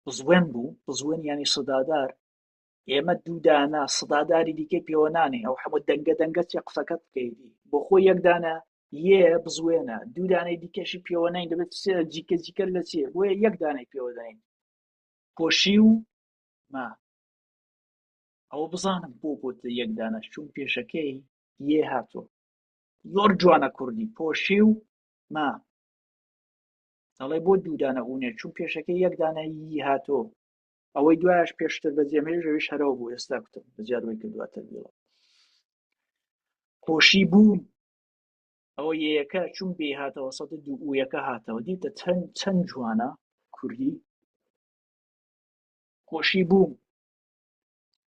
بزوێن بوو بزوێن ینی سدادار ئێمە دوو دانە سداداری دیکەی پێوەنانێ ئەو هەموو دەنگە دەنگە چێ قسەکەت بکەیتی بۆ خۆ یەکدانە یێ بزوێنە دوودانەی دیکەشی پێوەنین دەبێت جیکە جیکە لە چێ بۆیە یەکدانەی پێوەدەین پۆشی و ما ئەوە بزانم بۆ بۆت یەکدانە چون پێشەکەی یێ هاتۆ زۆر جوانە کوردی پۆشی و ما دەڵێ بۆ دوودانە ئوونێ چون پێشەکەی یەکدانە یی هاتۆ ئەوەی دوایش پێشتر بە جێمێژ ئەویش هەرەوە بوو ئێستا کوتم زیاد وی کردووە تەبیڵە خۆشی بوو ئەوە یەکە چون بێ هاتەوە سەد دوو یەکە هاتەوە دیتە چەند چەند جوانە کوردی خۆشی بوو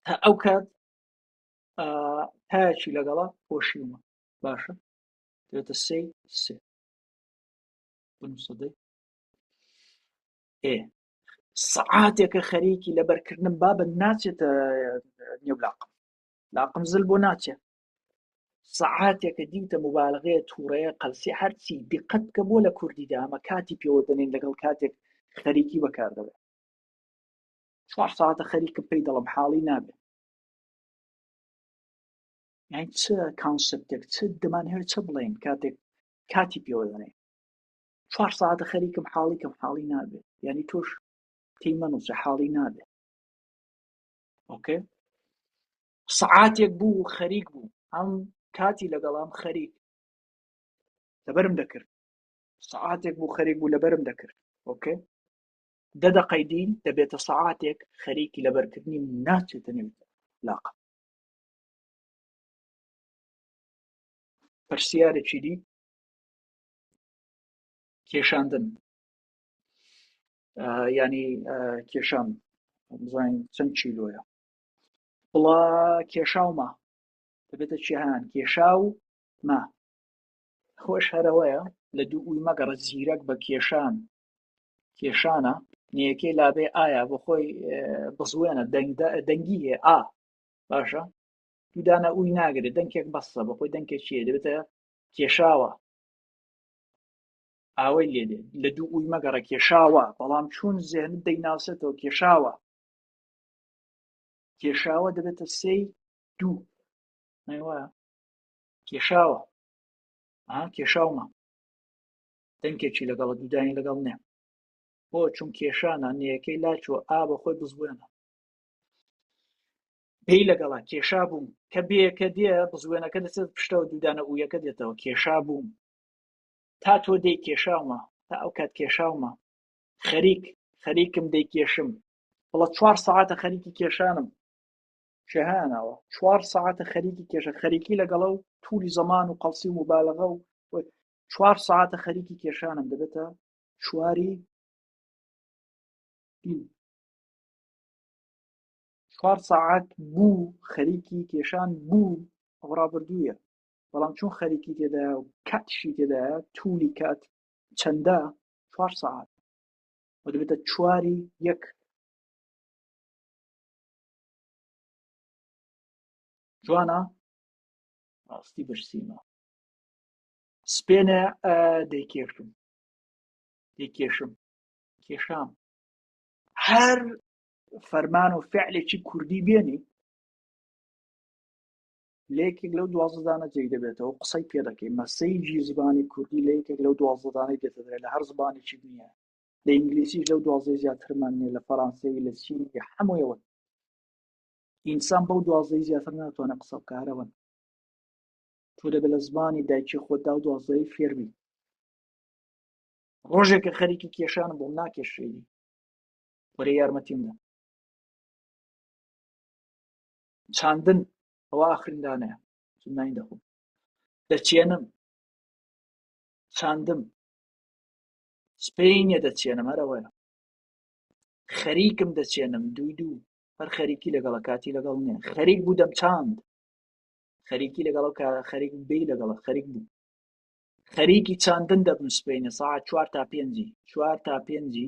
تا ئەو کات تاچی لەگەڵا خۆشی ومە باشە دێتە سێ سێ سەدەی ئێ سەعاتێکە خەریکی لەبەرکردنم بابە ناچێتە نێو لاقم لاقم زل بۆ ناچێت سەعاتێکە دیتە مبالغەیە تووڕەیە قەلسی هەرچی دقت بکە بۆ لە کوردی دامە کاتی پێوە دەنێن لەگەڵ کاتێک خەریکی بەکاردەوێت چوار ساعتە خەریکم پێی دەڵم حاڵی نابێت یان چ کانسپتێک چ دەمان هەیە چ بڵێن کاتێک کاتی پێوە دەنێن چوار سەعاتە خەریکم حاڵی کەم حاڵی نابێت یعنی تۆش تێی مەنووسە حاڵی نابێت ئۆکێ سەعاتێک بوو خەریک بوو ئەم کاتی لەگەڵام خەریک لەبەرم دەکرد سەعاتێک بوو خەریک بوو لەبەرم دەکرد ئۆکێ دە دەقەی دین دەبێتە سەعاتێک خەریکی لەبەرکردنی ناچێتە نێو لاقە پرسیارێکی دی کێشاندن ینی کێشان بزانین چەند چیلۆیە بڵا کێشاومە دەبێتە چیهان کێشا و ما خۆش هەرەوەیە لە دوو ئوی مەگەڕە زیرەک بە کێشان کێشانە نیەکەی لابێ ئایا بۆ خۆی بزوێنە دەنگی هێ ئا باشە دوودانە ئوی ناگرێت دەنکێک بەسە بە خۆی دەنکێک چیە دەبێتە کێشاوە ئاوەی لێ دێ لە دوو ئووی مەگەڕە کێشاوە بەڵام چون زێنت دەیناسێتەوە کێشاوە کێشاوە دەبێتە سێی دوو نەوە کێشاوە ها کێشاومە دەنکێکی لەگەڵە دوودانی لەگەڵ نێ بۆ چون کێشانە نەیەکەی لاچوە ئا بە خۆی بزبێنە پێی لەگەڵا کێشا بووم کە بێیەکە دێ بزوێنەکە دەچێت پشتەوە دوودانە ئوویەکە دێتەوە کێشا بووم تا تۆ دەی کێشاومە تا ئەو کات کێشاومە خەریک خەریکم دەی کێشم بڵە چوار سەعاتە خەریکی کێشانم شەهانەوە چوار سەعاتە خەریکی کێشە خەریکی لەگەڵە و تووری زەمان و قەڵسی و مبالغە و چوار سەعاتە خەریکی کێشانم دەبێتە چواری چوار سەعات بوو خەریکی کێشان بوو ئەو ڕابردوویە بەڵام چون خەریکی تێدا و کاتشی تێدا تولی کات چەندە چوار سەعات دەبێتە چواری یەک جوانە ڕاستی بەرسیمە سپێنە دەیکێشم دەیکێشم کێشام هەر فەرمان و فعلێکی کوردی بێنی لە یەکێک لەو دوازدانە جێی دەبێتەوە قسەی پێ دەکەی مەسەیجی زمانی کوردی لە یەکێک لەو دوازدانەی دێتەدرێت لە هەر زمانێکی نییە لە ئینگلیسیش لەو دوازدە زیاترمان نیە لە فەرانسەوی لە چین هەموویەوە ئینسان بەو دوازدەی زیاتر ناتوانە قسە بکارەوەن تۆ دەبێت لە زمانی دایکی خۆدا و دوازدەی فێربی ڕۆژێکە خەریکی کێشانە بۆم ناکێشێنی وەرێ یارمەتیم بدە چاندن ئەوە ئاخرندانەیە نانی دەخۆم دەچێنم چاندم سپینە دەچێنم هەرەوەە خەریکم دەچێنم دوو دوو هەر خەریکی لەگەڵ کاتی لەگەڵ نیە خەریک بوو دەم چاند خەریکی لەگەڵ خەریک بی لەگەڵ خەریک بوو خەریکی چاندن دەبن سپینە ساعت چوار تا پێنجی چوار تا پێنجی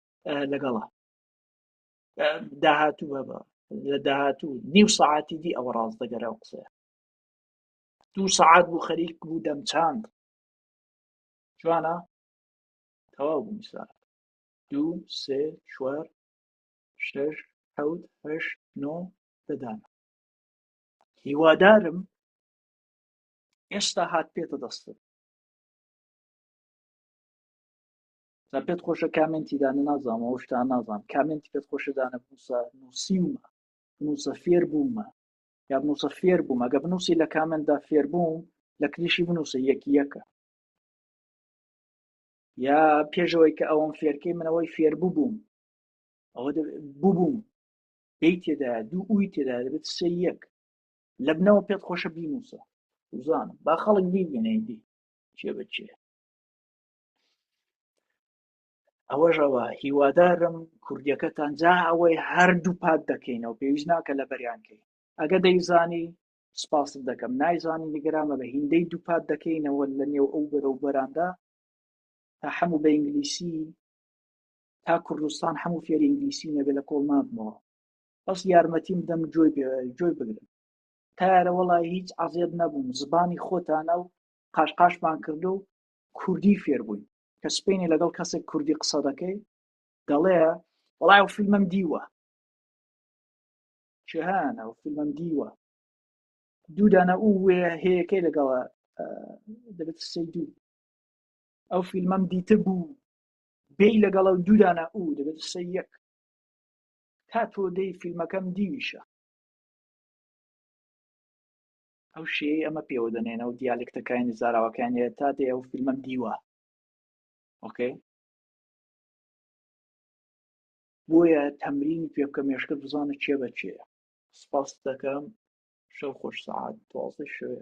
لەگەڵە داهاتوو بەبە لە داهاتوو نیو سعاتی دی ئەوە ڕاست دەگەرە و قسەیە دوو سعات بوو خەریک بوو دەمچاند جوانە تەواو بوو میسا دوو سێ چوار شش حەوت هەشت نۆ دەدانە هیوادارم ئێستا هات پێتە دەستت جا پێت خۆشە کامنتی دانە نازانم ئەو شتا نازانم کامنتی پێت خۆشە دانە بنووسە نووسیومە بنووسە فێر بوومە یا بنووسە فێر بووم ئەگە بنووسی لە کامنتدا فێر بووم لە کلیشی بنووسە یەکی یەکە یا پێشەوەی کە ئەوەم فێرکەی منەوەی فێر ببووم ئەوە ببووم دەی تێدا دوو ئوی تێدا دەبێت سێ یەک لە بنەوە پێت خۆشە بینووسە وزانم با خەڵک بیبینەی دی چێ بچێ ئەوەژەوە هیوادارم کوردیەکەتان جا ئەوەی هەردوو پات دەکەینەوە پێویست ناکە لە بەریانکەی ئەگە دەیزانی سپاست دەکەم نایزانی نیگەرامە بە هیندەی دووپات دەکەینەوە لە نێو ئەو بەرە و بەراندا تا هەموو بە ئینگلیسی تا کوردستان هەموو فێر ئینگلیسی نەبێ لە کۆڵ نابمەوە بەس یارمەتیم دەم جۆی جۆی بگرم تارە وڵی هیچ عزیێت نەبووم زبانی خۆتانە و قاشقاشمان کردو کوردی فێر بووین کە سپینێ لەگەڵ کەسێک کوردی قسە دەکەی دەڵێ وڵای و فیلمم دیوە چهانە و فیلمم دیوە دوودانە ئو وێ هەیەکەی لەگەڵە دەبێت سەی دوو ئەو فیلمم دیتە بوو بێ لەگەڵە و دوودانە ئو دەبێت سەی یەک تا تۆ دەی فیلمەکەم دیویشە ئەو شێی ئەمە پێوە دەنێن ئەو دیالکتەکانی زاراوەکان هەیە تا دێ ئەو فیلمم دیوە ئۆکەی بۆیە تەمرینی پێ بکە مێشکە بزانە چێ بە چێە سپاس دەکەم شەو خۆش سعات دوازدە شوێ